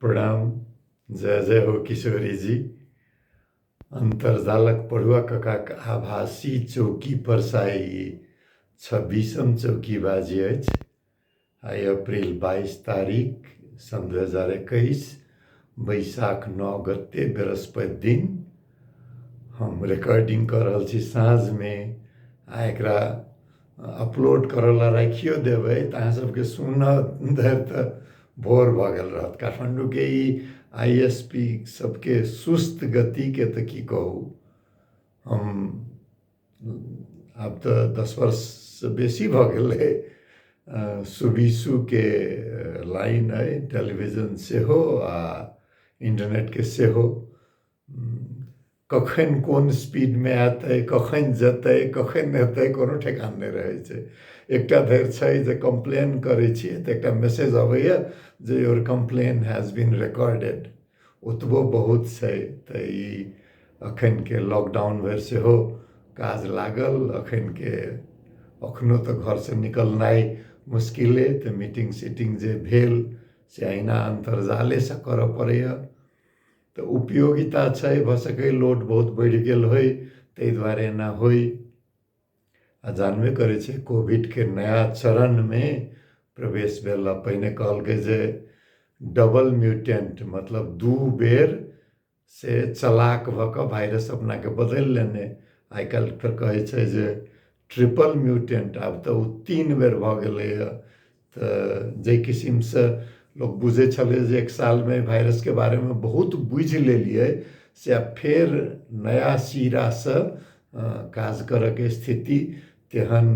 प्रणाम जय जय हो किशोरी जी अन्तर्जालक पढ़ुआ ककाक आभासी चौकी पर साई छब्बीसम चौकी बाजी अछि आइ अप्रिल बाइस तारीख सन् दू हजार एकैस बैशाख नओ गते बृहस्पति दिन हम रिकॉर्डिंग कऽ रहल छी साँझमे आ एकरा अपलोड करऽला राखियो देबै तऽ अहाँ सबके सुनऽ धरि तऽ भोर भऽ गेल रहत काठमाण्डूके ई आई एस पी सबके सुस्त गतिके तऽ की कहू हम आब तऽ दस वर्षसँ बेसी भऽ गेलै सुबीसुके लाइन अइ टेलीविजन सेहो आ इन्टरनेटके सेहो कखन कोन स्पीडमे एतै कखन जेतै कखन एतै कोनो ठेकान नहि रहै छै एकटा धरि छै जे कम्प्लेन करै छियै तऽ एकटा मैसेज अबैए जे your complain has been recorded ओतबो बहुत छै तऽ ई एखनके लॉकडाउन भरि सेहो काज लागल एखनके एखनो तऽ घरसँ निकलनाइ मुश्किले तऽ मीटिंग सीटिंग जे भेल से अहिना अन्तर्जालेसँ करय पड़ैए तऽ उपयोगिता छै भऽ सकै लोड बहुत बढ़ि गेल होइ ताहि दुआरे एना होइ आ जानबे करै छै कोविडके नया चरणमे प्रवेश भेला पहिने कहलकै जे डबल म्यूटेंट मतलब दू बेर से चलाक भऽ कऽ वायरस अपनाके बदलि लेने आइ काल्हि तऽ कहै छै जे ट्रिपल म्यूटेंट आब तऽ ओ तीन बेर भऽ गेलैए तऽ जाहि किसिमसँ लोक बुझै छलै जे एक सालमे भाइरसके बारेमे बहुत बुझि लेलियै से आब फेर नया सिरासँ काज करयके स्थिति तेहन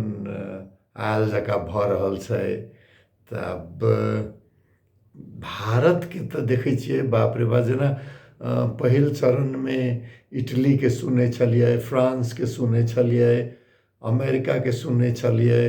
आयल जकाँ भऽ रहल छै तऽ आब भारतके तऽ देखै छियै बाप रे बाप जेना पहिल चरणमे इटलीके सुनै छलियै फ्रांसके सुनै छलियै अमेरिकाके सुनै छलियै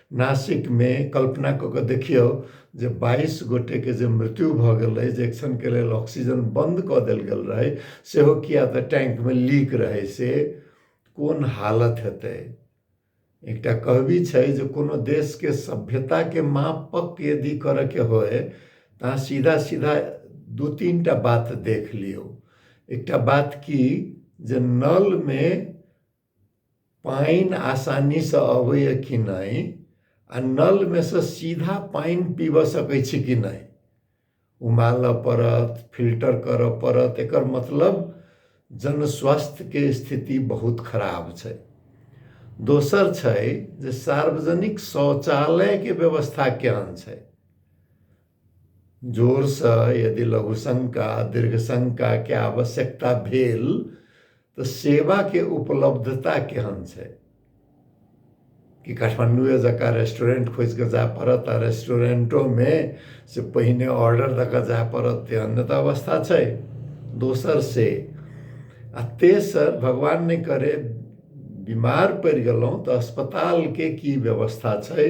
नासिकमे कल्पना कऽ कऽ देखियौ जे बाइस गोटेके जे मृत्यु भऽ गेल रहै जे एक्शनके लेल ऑक्सीजन बन्द कऽ देल गेल रहै सेहो किया तऽ टैंकमे लीक रहै से कोन हालत हेतै एकटा कहबी छै जे कोनो देशके सभ्यताके मापक यदि करयके होय तऽ अहाँ सीधा सीधा दू तीन टा बात देख लियौ एकटा बात की जे नलमे पानि आसानीसँ अबैए कि नहि आ नलमे सँ सीधा पानि पीबऽ सकै छी कि नहि उमालऽ पड़त फिल्टर करऽ पड़त एकर मतलब जन स्वास्थ्यके स्थिति बहुत खराब छै दोसर छै जे सार्वजनिक शौचालयके व्यवस्था केहन छै जोरसँ यदि लघुशंका दीर्घशंकाके आवश्यकता भेल तऽ सेवाके उपलब्धता केहन छै कि काठमाण्डुए जकाँ रेस्टोरेंट खोजि कऽ जाय पड़त आ रेस्टोरेंटोमे से पहिने ऑर्डर दऽ कऽ जाय पड़त तेहन तऽ अवस्था छै दोसर से आ तेसर भगवान नहि करे बीमार पड़ि गेलहुँ तऽ अस्पतालके की व्यवस्था छै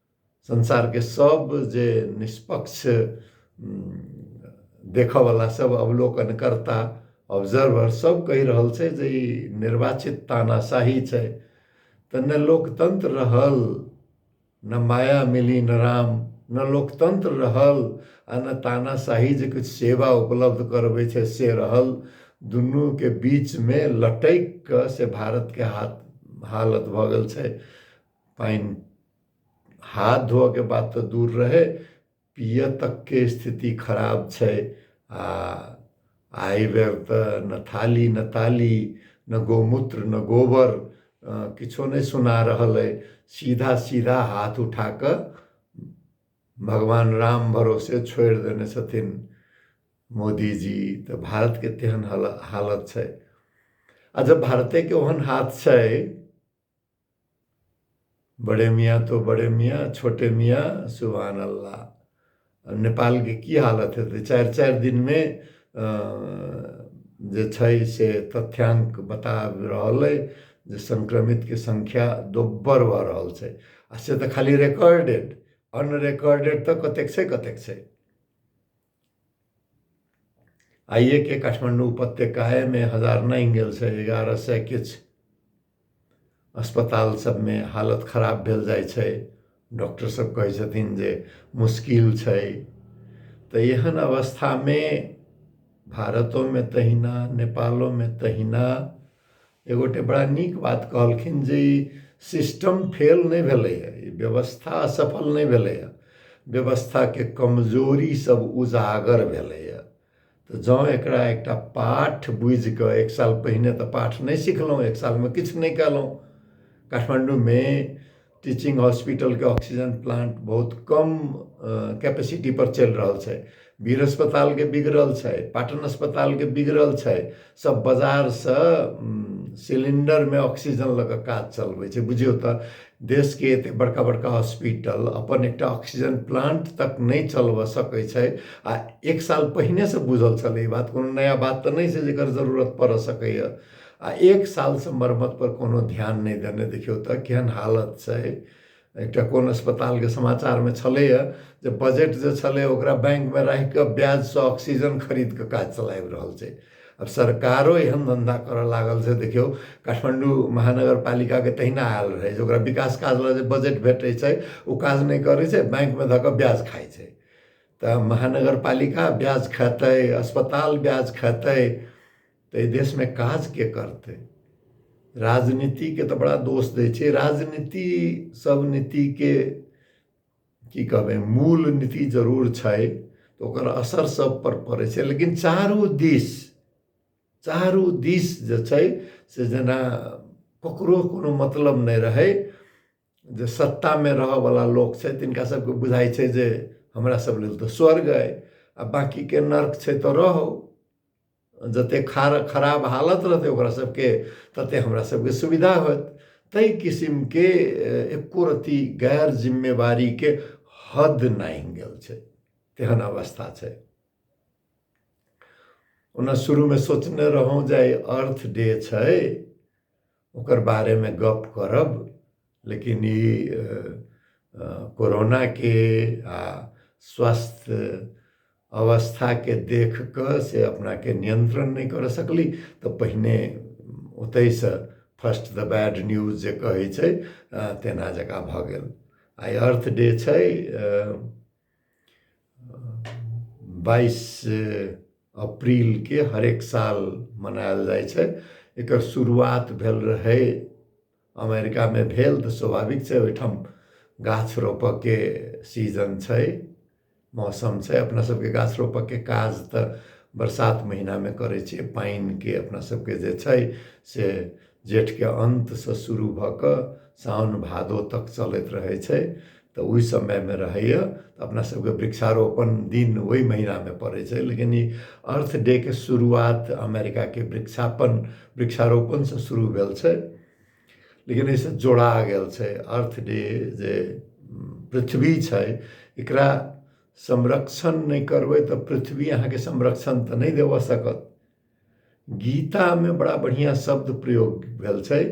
संसारके सब जे निष्पक्ष देखऽवला सब अवलोकनकर्ता ऑब्जर्वर सब कहि रहल छै जे ई निर्वाचित तानाशाही छै तऽ ने लोकतंत्र रहल न माया मिली न राम न लोकतंत्र रहल आ न तानाशाही जे किछु सेवा उपलब्ध करबै छै से रहल दुनूके बीचमे लटकि कऽ से भारतके हाथ हालत भऽ गेल छै पानि हाथ धोअके बात तऽ दूर रहै पियऽ तकके स्थिति खराब छै आ आइ बेर तऽ न थाली न ताली न गोमूत्र न गोबर किछो नहि सुना रहल अइ सीधा सीधा हाथ उठा कऽ भगवान राम भरोसे छोड़ि देने छथिन मोदीजी तऽ भारतके तेहन हालत छै आ जब भारतेके ओहन हाथ छै बडे मिया तो बडे मिया छोटे मिया सुभान अल्लाह नेपाल के की हालत हेतै चारि चारि दिन में जे छै से तथ्यांक बता रहल है जे संक्रमित के संख्या दोब्बर भऽ रहल छै आ से तऽ खाली रेकर्डेड अनरेकर्डेड तऽ कतेक छै कतेक छै आइए के काठमांडू उपत्यका है में हजार नौ गेल से एगारह सौ किछ अस्पताल सब में हालत खराब भेल जाय छै डॉक्टर सब कहै छथिन जे मुश्किल छै तो एहन अवस्था में भारतों में तहिना नेपालों में तहिना एगो गोटे बड़ा नीक बात कहलखिन जे ई सिस्टम फेल नहि भेलैए ई व्यवस्था असफल नहि भेलैए व्यवस्थाके कमजोरी सब उजागर भेलैए तऽ जँ एकरा एकटा पाठ बुझि कऽ एक साल पहिने तऽ पाठ नहि सिखलहुँ एक सालमे किछु नहि कयलहुँ काठमाण्डूमे टीचिंग हॉस्पिटलके ऑक्सीजन प्लांट बहुत कम कैपेसिटी पर चलि रहल छै वीर अस्पतालके बिगड़ल छै पाटन अस्पतालके बिगड़ल छै सब बाजारसँ सिलिंडरमे ऑक्सीजन लऽ कऽ काज चलबै छै बुझियौ तऽ देशके एते बड़का बड़का हॉस्पिटल अपन एकटा ऑक्सीजन प्लांट तक नहि चलबऽ सकै छै आ एक साल पहिनेसँ बुझल छलै ई बात कोनो नया बात तऽ नहि छै जेकर जरूरत पड़ऽ सकैए आ एक सालसँ मरम्मतपर कोनो ध्यान नहि देने देखियौ तऽ केहन हालत छै एकटा कोन अस्पतालके समाचारमे छलैए जे बजट जे छलै ओकरा बैंकमे राखि कऽ ब्याजसँ ऑक्सीजन खरीद कऽ काज चलाबि रहल छै अब सरकारो एहन धंधा करऽ लागल से देखियौ काठमांडू महानगर पालिका के तहिना आयल रहै जे ओकरा विकास काज लए जे बजट भेटै छै ओ काज नहि करै छै बैंक मे धऽ कऽ ब्याज खाइ छै तऽ महानगर पालिका ब्याज खेतै अस्पताल ब्याज खेतै तऽ देशमे काज के करतै राजनीतिके तऽ बड़ा दोष दै छै राजनीति सब नीतिके की कहबै मूल नीति जरूर छै तऽ ओकर असर सब पर पड़ै छै लेकिन चारू दिस चारू दिस जे छै से जेना ककरो कोनो मतलब नहि रहै जे सत्तामे रहऽवला लोक छै तिनका सबके बुझाइ छै जे हमरा सब लेल तऽ स्वर्ग अइ आ बाँकीके नर्क छै तऽ रहू जते खार खराब हालत रहतै ओकरा सबके तते हमरा सबके सुविधा होत ताहि किसिमके एको रत्ती गैर जिम्मेवारीके हद नहि गेल छै तेहन अवस्था छै ओना शुरूमे सोचने रहौँ जे अर्थ डे छै ओकर बारेमे गप्प करब लेकिन ई कोरोनाके आ स्वस्थ अवस्थाके देख कऽ से अपनाके नियन्त्रण नहि करऽ सकली तऽ पहिने ओतहिसँ फर्स्ट द बैड न्यूज जे कहै छै तेना जकाँ भऽ गेल आइ अर्थ डे छै बाइस अप्रिलके हरेक साल मनायल जाइ छै एकर शुरुआत भेल रहै अमेरिकामे भेल तऽ स्वाभाविक छै ओहिठाम गाछ रोपयके सीजन छै मौसम छै अपना सबके गाछ रोपयके काज तऽ बरसात महिनामे करै छियै पानिके अपना सबके जे छै से जेठके अन्तसँ शुरू भऽ कऽ साओन भादो तक चलैत रहै छै तऽ ओहि समयमे रहैए तऽ अपना सबके वृक्षारोपण दिन ओहि महिनामे पड़ै छै लेकिन ई अर्थ डेके शुरुआत अमेरिकाके वृक्षापन वृक्षारोपणसँ शुरू भेल छै लेकिन एहिसँ जोड़ा गेल छै अर्थ डे जे पृथ्वी छै एकरा संरक्षण नहि करबै तऽ पृथ्वी अहाँके संरक्षण तऽ नहि देबऽ सकत गीतामे बड़ा बढ़िआँ शब्द प्रयोग भेल छै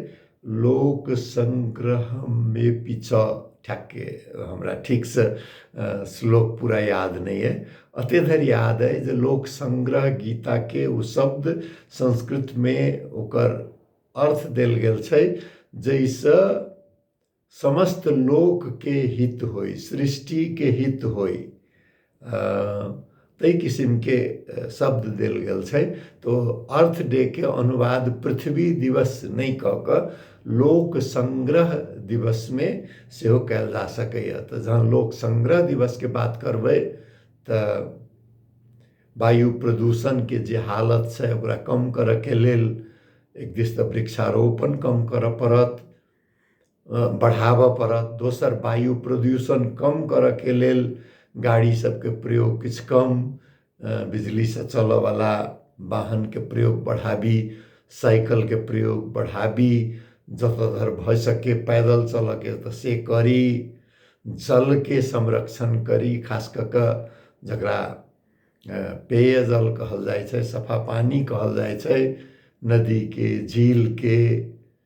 लोक संग्रहमे पीछा ठ्याक्के हमरा ठीकसँ श्लोक पूरा याद नहि अइ एते धरि याद अइ जे लोक संग्रह गीताके ओ शब्द संस्कृतमे ओकर अर्थ देल गेल छै जाहिसँ समस्त लोक के हित होई सृष्टि के हित होई तई किसिम के शब्द देल गेल छै तो अर्थ डे के अनुवाद पृथ्वी दिवस नहीं कह के लोक संग्रह दिवस में सेहो कयल जा सकैए तऽ जहन लोक संग्रह दिवस के बात करबै तऽ वायु प्रदूषण के जे हालत छै ओकरा कम करऽ के लेल एक दिस तऽ वृक्षारोपण कम करऽ पड़त बढ़ाबऽ पड़त दोसर वायु प्रदूषण कम करऽके लेल गाड़ी सभके प्रयोग किछु कम बिजलीसँ चलऽवला वाहनके प्रयोग बढ़ाबी साइकलके प्रयोग बढ़ाबी जतऽ धरि भऽ सके पैदल चलऽके तऽ से करी जलके संरक्षण करी खास कऽ कऽ जकरा पेयजल कहल जाइ छै सफा पानि कहल जाइ छै नदीके झीलके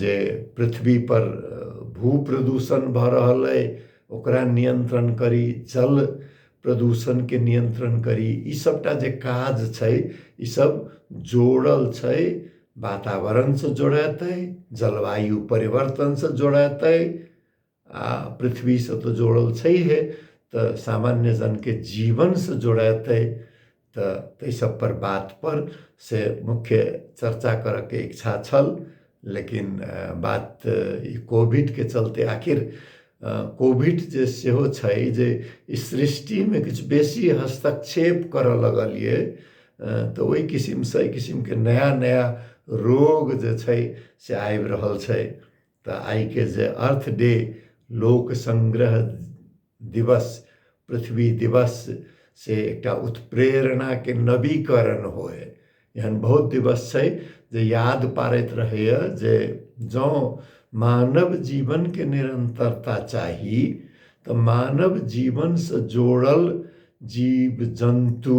जे पृथ्वी पर भू प्रदूषण भऽ रहल अइ ओकरा नियंत्रण करी जल प्रदूषण के नियंत्रण करी ई सबटा जे काज छै ई सब जोड़ल छै वातावरण से जोड़ेतै जलवायु परिवर्तन से जोड़ेतै आ पृथ्वीसँ तऽ जोड़ल छैहे तऽ सामान्य जनके जीवनसँ जोड़ेतै तऽ ताहि सब पर बात पर से मुख्य चर्चा करऽके इच्छा छल लेकिन बात ई कोविडके चलते आखिर कोविड जे सेहो छै जे ई सृष्टिमे किछु बेसी हस्तक्षेप करऽ लगल ये तऽ ओहि किसिमसँ एहि किसिमके नया नया रोग जे छै से आबि रहल छै तऽ आइके जे अर्थ डे लोक संग्रह दिवस पृथ्वी दिवस से एकटा उत्प्रेरणाके नवीकरण होय एहन बहुत दिवस छै जे याद पारैत रहैए जे जँ मानव जीवनके निरन्तरता चाही तऽ मानव जीवनसँ जोड़ल जीव जन्तु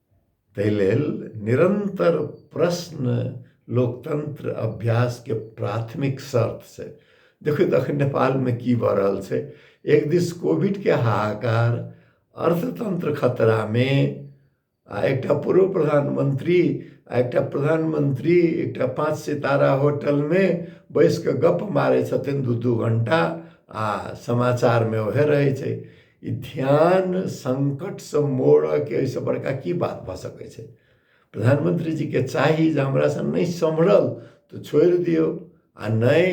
ताहि लेल निरन्तर प्रश्न लोकतन्त्र अभ्यासके प्राथमिक शर्त छै देखियौ तऽ अखन नेपालमे की भऽ रहल छै एक दिस कोविडके हाहाकार अर्थतन्त्र खतरामे आ एकटा पूर्व प्रधानमन्त्री आ एकटा प्रधानमन्त्री एकटा पाँच सितारा होटलमे बैस कऽ गप्प मारै छथिन दू दू घण्टा आ समाचारमे उएह रहै छै ई ध्यान संकटसँ मोड़ऽके एहिसँ बड़का की बात भऽ सकै छै प्रधानमंत्री जीके चाही जे हमरासँ नहि सम्हरल तऽ छोड़ि दियौ आ नहि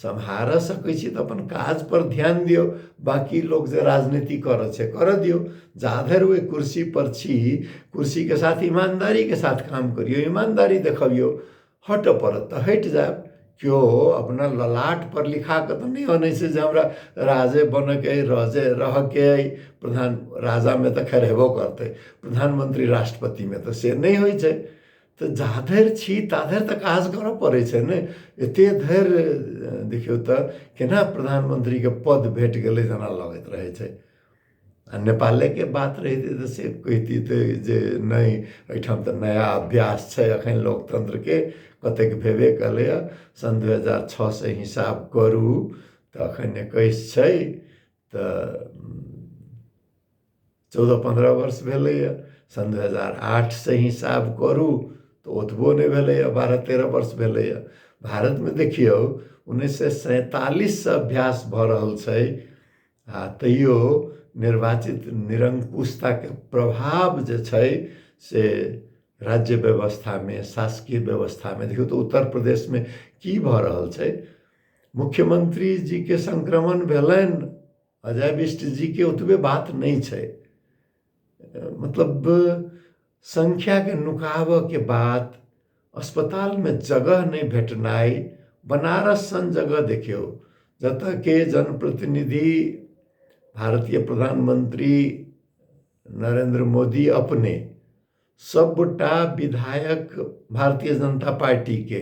सम्हारऽ सकै छी तऽ अपन काज पर ध्यान दियौ बाकी लोग जे राजनीति करऽ छै करऽ दियौ जाधर ओहि कुर्सी पर छी कुर्सी के साथ ईमानदारी के साथ काम करियौ ईमानदारी देखबियौ हटय पड़त तऽ हटि जायब केओ अपना ललाटपर लिखा कऽ तऽ नहि अनै छै जे हमरा राजे बनयके अइ राजे रहयके अइ प्रधान राजामे तऽ खैर हेबो करतै प्रधानमंत्री राष्ट्रपतिमे तऽ से नहि होइ छै तऽ जा धरि छी ता धरि तऽ काज करय पड़ै छै ने एतेक धरि देखियौ तऽ केना प्रधानमंत्रीके पद भेट गेलै जेना लगैत रहै छै आ नेपालेके बात रहितै तऽ से कहितितै जे नहि एहिठाम तऽ नया अभ्यास छै एखन लोकतन्त्रके कतेक भेबे कयलैए सन् दू हजार छओसँ हिसाब करू तऽ एखन एकैस छै तऽ चौदह पन्द्रह वर्ष भेलैए सन् दू हजार आठसँ हिसाब करू तऽ ओतबो नहि भेलैए बारह तेरह वर्ष भेलैए भारतमे देखियौ उन्नैस सए सैंतालिससँ अभ्यास भऽ रहल छै आ तैयो निर्वाचित निरङ्कुशताके प्रभाव जे छै से राज्य व्यवस्थामे शासकीय व्यवस्थामे देखियौ तऽ उत्तर प्रदेशमे की भऽ रहल छै मुख्यमंत्री जीके संक्रमण भेलनि अजय बिष्ट जीके ओतबे बात नहि छै मतलब सङ्ख्याके नुकाबऽके बाद अस्पतालमे जगह नहि भेटनाइ बनारस सन जगह देखियौ जतऽके जनप्रतिनिधि भारतीय प्रधानमन्त्री नरेन्द्र मोदी अपने सभगोटा विधायक भारतीय जनता पार्टीके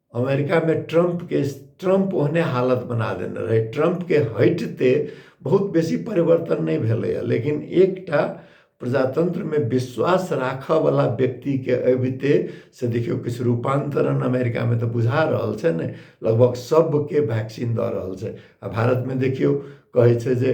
अमेरिकामे ट्रम्पके ट्रम्प ओहने हालत बना देने रहै ट्रम्पके हटिते बहुत बेसी परिवर्तन नहि भेलैए लेकिन एकटा प्रजातन्त्रमे विश्वास राखयवला व्यक्तिके अबिते से देखियौ किछु रूपान्तरण अमेरिकामे तऽ बुझा रहल छै ने लगभग सभके वैक्सीन दऽ रहल छै आ भारतमे देखियौ कहै छै जे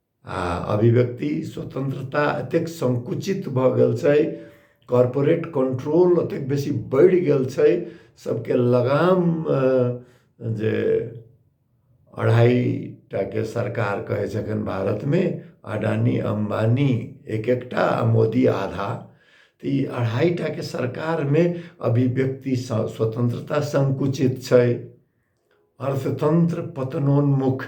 आ अभिव्यक्ति स्वतन्त्रता एतेक सङ्कुचित भऽ गेल छै कॉरपोरेट कंट्रोल ओतेक बेसी बढ़ि गेल छै सबके लगाम जे अढ़ाईटा के सरकार कहै छै एखन भारतमे अडानी अम्बानी एक एकटा आ मोदी आधा तऽ ई अढ़ाईटाके सरकारमे अभिव्यक्ति स्वतन्त्रता सङ्कुचित छै अर्थतन्त्र पतनोन्मुख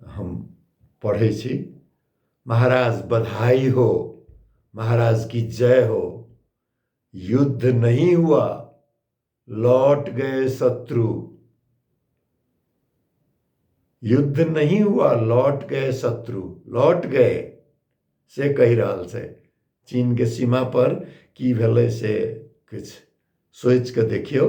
हम पढ़ै छी महाराज बधाई हो महाराज की जय हो युद्ध नहीं हुआ लौट गए शत्रु युद्ध नहीं हुआ लौट गए शत्रु लौट गए से कहि रहल छै चीनके सीमापर की भेलै से किछु सोचि कऽ देखियौ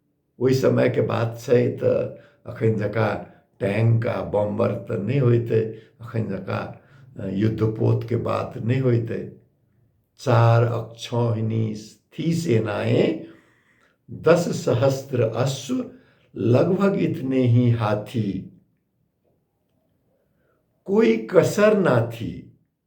ओहि समयके बात छै तऽ एखन जकाँ टैंक आ बम्बर तऽ नहि होइतै एखन जकाँ युद्धपोतके बात नहि होइतै चार अक्षौहिणी थी सेनाएं दस सहस्त्र अश्व लगभग इतने ही हाथी कोई कसर ना थी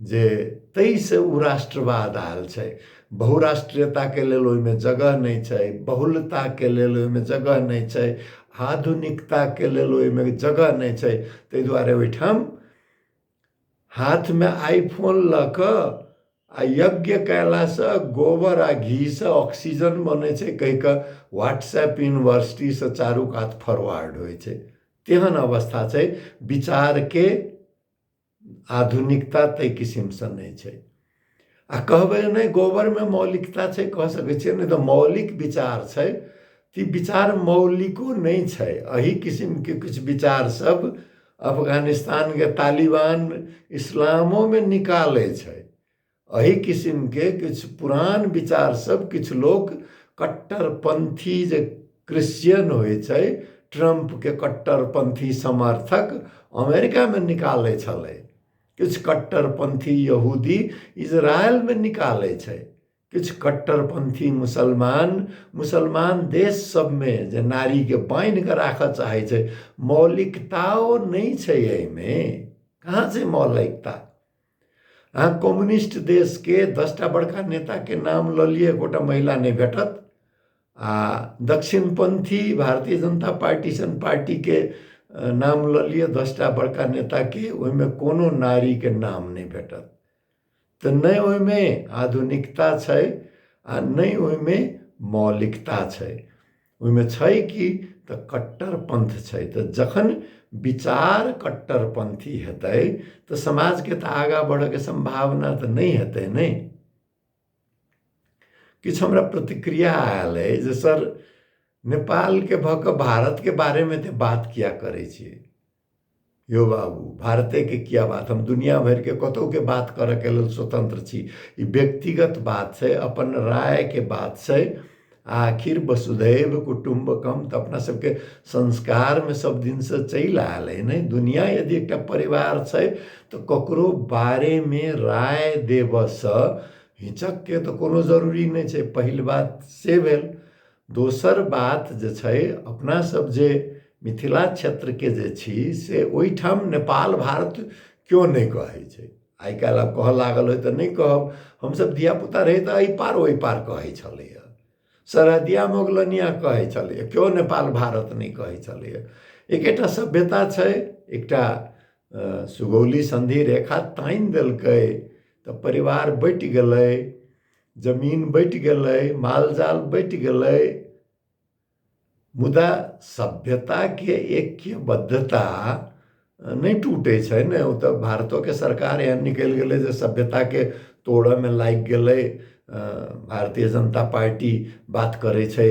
जे ताहिसँ ओ राष्ट्रवाद आयल छै बहुराष्ट्रीयताके लेल ओहिमे जगह नहि छै बहुलताके लेल ओहिमे जगह नहि छै आधुनिकताके लेल ओहिमे जगह नहि छै ताहि दुआरे ओहिठाम हाथमे आइफोन लऽ कऽ आ यज्ञ कयलासँ गोबर आ घीसँ ऑक्सीजन बनै छै कहि कऽ व्हाट्सएप यूनिवर्सिटीसँ चारू कात फॉरवर्ड होइ छै तेहन अवस्था छै विचारके आधुनिकता ताहि किसिमसँ नहि छै आ कहबै नहि गोबरमे मौलिकता छै कह सकै छियै नहि तऽ मौलिक विचार छै तऽ विचार मौलिको नहि छै एहि किसिमके किछु विचार सब अफगानिस्तानके तालिबान इस्लामोमे निकालै छै एहि किसिमके किछु पुरान विचार सब किछु लोक कट्टरपंथी जे क्रिश्चियन होइ छै ट्रम्पके कट्टरपंथी समर्थक अमेरिकामे निकालै छलै किछु कट्टरपंथी यहूदी इजरायलमे निकालै छै किछु कट्टरपंथी मुसलमान मुसलमान देश सबमे जे नारीके बान्हि कऽ राखऽ चाहै छै मौलिकताओ नहि छै एहिमे कहाँ छै मौलिकता अहाँ कम्युनिस्ट देशके दसटा बड़का नेताके नाम लऽ लिअ एकोटा महिला नहि भेटत आ दक्षिणपन्थी भारतीय जनता पार्टी सन पार्टीके नाम लऽ लिअ दसटा बड़का नेताके ओहिमे कोनो नारीके नाम नहि भेटत तऽ नहि ओहिमे आधुनिकता छै आ नहि ओहिमे मौलिकता छै ओहिमे छै कि तऽ कट्टरपन्थ छै तऽ जखन विचार कट्टरपन्थी हेतै तऽ समाजके तऽ आगाँ बढ़यके सम्भावना तऽ नहि हेतै ने किछु हमरा प्रतिक्रिया आयल अइ जे सर नेपालके भऽ कऽ भारतके बारेमे एतेक बात किया करै छी यौ बाबू भारतेके किया बात हम दुनिया भरिके कतहुके बात करऽके लेल स्वतंत्र छी ई व्यक्तिगत बात छै अपन रायके बात छै आखिर वसुधैव कुटुम्बकम तऽ अपना सबके संस्कारमे सब दिनसँ चलि आयल अइ ने दुनिया यदि एकटा परिवार छै तऽ ककरो बारेमे राय देबऽसँ हिचकके तऽ कोनो जरूरी नहि छै पहिल बात से भेल दोसर बात जे छै अपना सब जे मिथिला क्षेत्रके जे छी से ओइठाम नेपाल भारत केओ नहि कहै छै आइ काल्हि आब कहऽ लागल हय तऽ नहि कहब हमसब धियापुता रही तऽ अइ पार ओइ पार कहै छलैय सरहदिया मोगलनिया कहै छलैय केओ नेपाल भारत नहि कहै छलैय एकेटा सभ्यता छै एकटा सुगौली सन्धि रेखा तानि देलकै तऽ परिवार बँटि गेलै जमीन बटि गेलै मालजाल बटि गेलै मुदा सभ्यताके ऐक्यबद्धता नहि टूटै छै ने ओ तऽ भारतोके सरकार एहन निकलि गेलै जे सभ्यताके तोड़यमे लागि गेलै भारतीय जनता पार्टी बात करै छै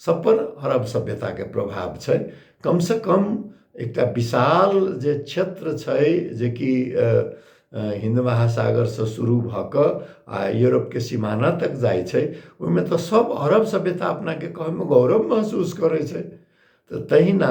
सबपर अरब सभ्यताके प्रभाव छै कमसँ कम एकटा विशाल जे क्षेत्र छै जेकि हिन्द महासागरसँ शुरू भऽ कऽ आ यूरोपके सीमाना तक जाइ छै ओहिमे तऽ सभ अरब सभ्यता अपनाके कहैमे गौरव महसूस करै छै तऽ तहिना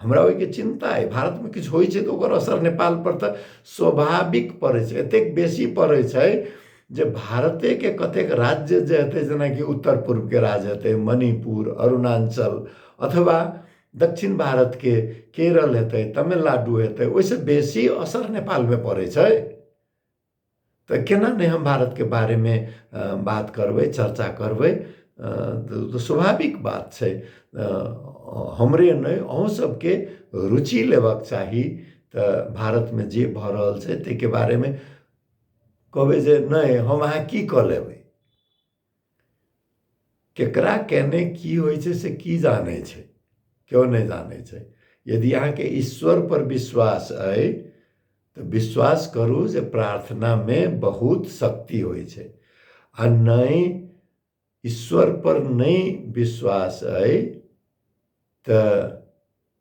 हमरा ओहिके चिन्ता अइ भारतमे किछु होइ छै तऽ ओकर असर नेपालपर तऽ स्वाभाविक पड़ै छै एतेक बेसी पड़ै छै जे भारतेके कतेक राज्य जे हेतै जेनाकि उत्तर पूर्वके राज्य हेतै मणिपुर अरुणाञ्चल अथवा दक्षिण भारतके केरल हेतै तमिलनाडु हेतै ओहिसँ बेसी असर नेपालमे पड़ै छै तऽ केना नहि हम भारतके बारेमे बात करबै चर्चा करबै तऽ स्वाभाविक बात छै हमरे नहि अहूँ सबके रुचि लेबाक चाही तऽ भारतमे जे भऽ रहल छै ताहिके बारेमे कहबै जे नहि हम अहाँ की कऽ लेबै केकरा केने की होइ छै से की जानै छै केओ नहि जानै छै यदि अहाँके ईश्वर पर विश्वास अइ तऽ विश्वास करू जे प्रार्थनामे बहुत शक्ति होइ छै आ नहि ईश्वर पर नहि विश्वास अइ तऽ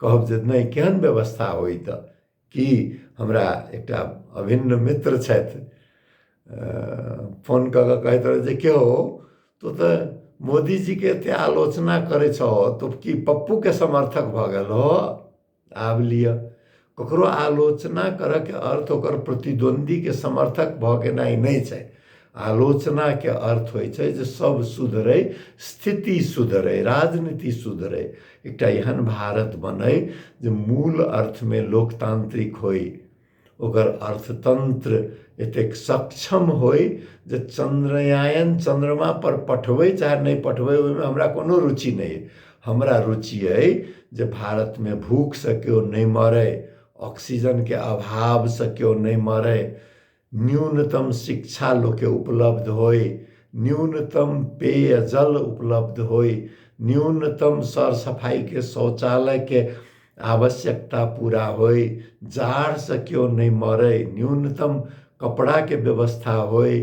कहब जे नहि केहन व्यवस्था होइ तऽ की हमरा एकटा अभिन्न मित्र छथि फोन कऽ कऽ कहैत रहथि जे की हो तू तऽ मोदीजीके एते आलोचना करै छहो तू की पप्पूके समर्थक भऽ गेल हो आब लिअ ककरो आलोचना करऽके अर्थ ओकर प्रतिद्वन्दीके समर्थक भऽ गेनाइ नहि छै आलोचनाके अर्थ होइ छै जे सब सुधरै स्थिति सुधरै राजनीति सुधरै एकटा एहन भारत बनै जे मूल अर्थमे लोकतान्त्रिक होइ ओकर अर्थतन्त्र एतेक सक्षम होइ जे चन्द्रयान चन्द्रमापर पठबै चाहे नहि पठबै ओहिमे हमरा कोनो रुचि नहि अइ हमरा रुचि अइ जे भारतमे भूखसँ केओ नहि मरै ऑक्सीजनके अभावसँ केओ नहि मरै न्यूनतम शिक्षा लोकके उपलब्ध होइ न्यूनतम पेयजल उपलब्ध होइ न्यूनतम सरसफाइके शौचालयके आवश्यकता पूरा होइ जाड़सँ केओ नहि मरै न्यूनतम कपड़ाके व्यवस्था होइ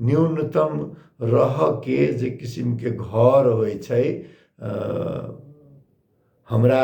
न्यूनतम रहऽके जे किसिमके घर होइ छै हमरा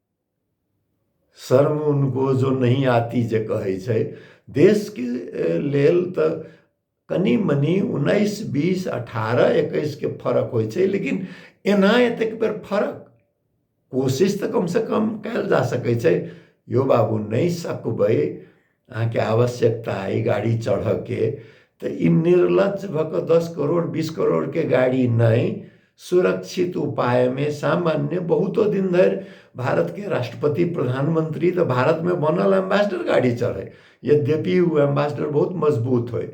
शर्म उनको जो नहीं आती जे कहै छै देशके लेल तऽ कनि मनि उन्नैस बीस अठारह एकैसके फरक होइ छै लेकिन एना एतेक बेर फरक कोशिश तऽ कमसँ कम कयल जा सकै छै यौ बाबू नहि सकबै अहाँके आवश्यकता अइ गाड़ी चढ़ऽके तऽ ई निर्लज भऽ कऽ दस करोड़ बीस करोड़के गाड़ी नहि सुरक्षित उपायमे सामान्य बहुतो दिन धरि भारतके राष्ट्रपति प्रधानमंत्री तऽ भारतमे बनल एम्बेसडर गाड़ी चढ़ै यद्यपि ओ एम्बेसडर बहुत मजबूत होइ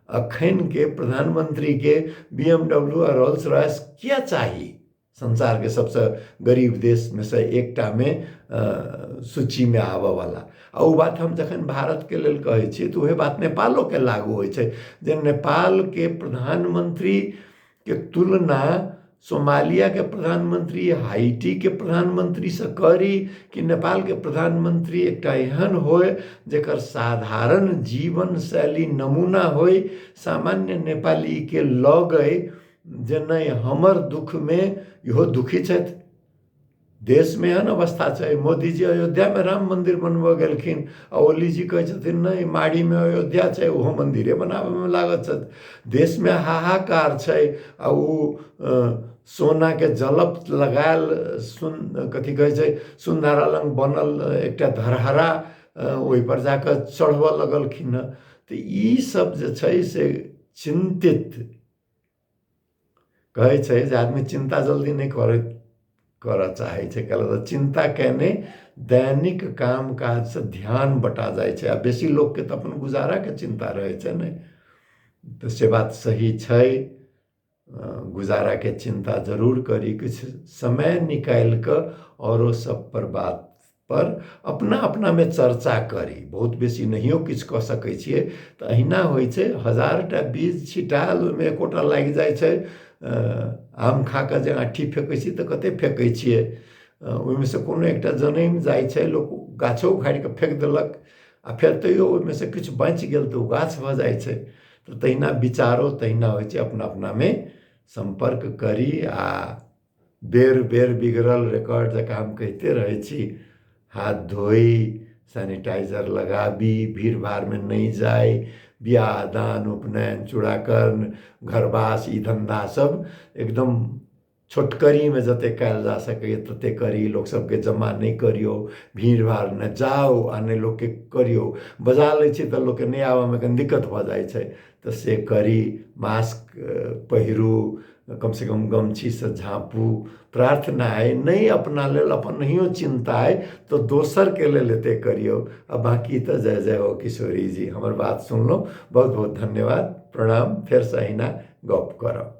एखनके प्रधानमंत्रीके बी एम डब्ल्यू आ रोल्स रॉयस किया चाही संसारके सबसँ गरीब देशमे सँ एकटामे सूचीमे आबयवला आ ओ बात हम जखन भारतके लेल कहै छी तऽ उएह बात नेपालोके लागू होइ छै जे नेपालके प्रधानमंत्रीके तुलना सोमालियाके प्रधानमंत्री हाइटीके प्रधानमंत्रीसँ करी कि नेपालके प्रधानमंत्री एकटा एहन होय जकर साधारण जीवन शैली नमूना होय सामान्य नेपालीके लगै जे नहि हमर दुःखमे इहो दुखी छथि देशमे एहन अवस्था छै मोदीजी अयोध्यामे राम मन्दिर बनबऽ गेलखिन आ ओलीजी कहै छथिन नहि माड़ीमे अयोध्या छै ओहो मन्दिरे बनाबऽमे लागल छथि देशमे हाहाकार छै आ ओ सोनाके जलप लगायल सुन कथी कहै छै सुनधारा लग बनल एकटा धरहरा ओहिपर जाकऽ चढ़बऽ लगलखिन हँ तऽ ई सभ जे छै से चिन्तित कहै छै जे आदमी चिन्ता जल्दी नहि करै करऽ चाहै छै कयला तऽ चिन्ता कयने दैनिक काम काजसँ ध्यान बँटा जाइ छै आ बेसी लोककेँ तऽ अपन गुजाराके चिन्ता रहै छै ने तऽ से बात सही छै गुजाराके चिन्ता जरूर करी किछु समय निकालि कऽ आओरो सभपर बात पर अपना अपनामे चर्चा करी बहुत बेसी नहियो किछु कऽ सकै छियै तऽ अहिना होइ छै हजार टा बीज छिटायल ओहिमे एकोटा लागि जाइ छै आम खा कऽ जे आँठी फेकै छी तऽ कते फेकै छियै ओहिमे से कोनो एकटा जनैम जाइ छै लोक गाछो उखाड़ि कऽ फेक देलक आ फेर तैयो ओहिमे से किछु बाँचि गेल तऽ ओ गाछ भऽ जाइ छै तऽ तहिना विचारो तहिना होइ छै अपना अपनामे सम्पर्क करी आ बेर बेर बिगड़ल रेकॉर्ड जकाँ हम कहिते रहै छी हाथ धोई सैनिटाइजर लगाबी भीड़ भाड़मे नहि जाइ बियाह दान उपनयन चूड़ाकर्म घरवास ई धन्धा सब एकदम छोटकरीमे जतेक कयल जा सकैए ततेक करी लोक सबके जमा नहि करियौ भीड़ भाड़ नहि जाउ आ नहि लोकके करियौ बजा लै छी तऽ लोकके नहि आबऽमे कनी दिक्कत भऽ जाइ छै तऽ से करी मास्क पहिरू कमसँ कम गमछीसँ झाँपू प्रार्थना अइ नहि अपना लेल अपन नहियो चिन्ता अइ तऽ दोसरके लेल एतेक करियौ आ बाँकी तऽ जय जय हो किशोरी जी हमर बात सुनलहुँ बहुत बहुत धन्यवाद प्रणाम फेरसँ अहिना गप करब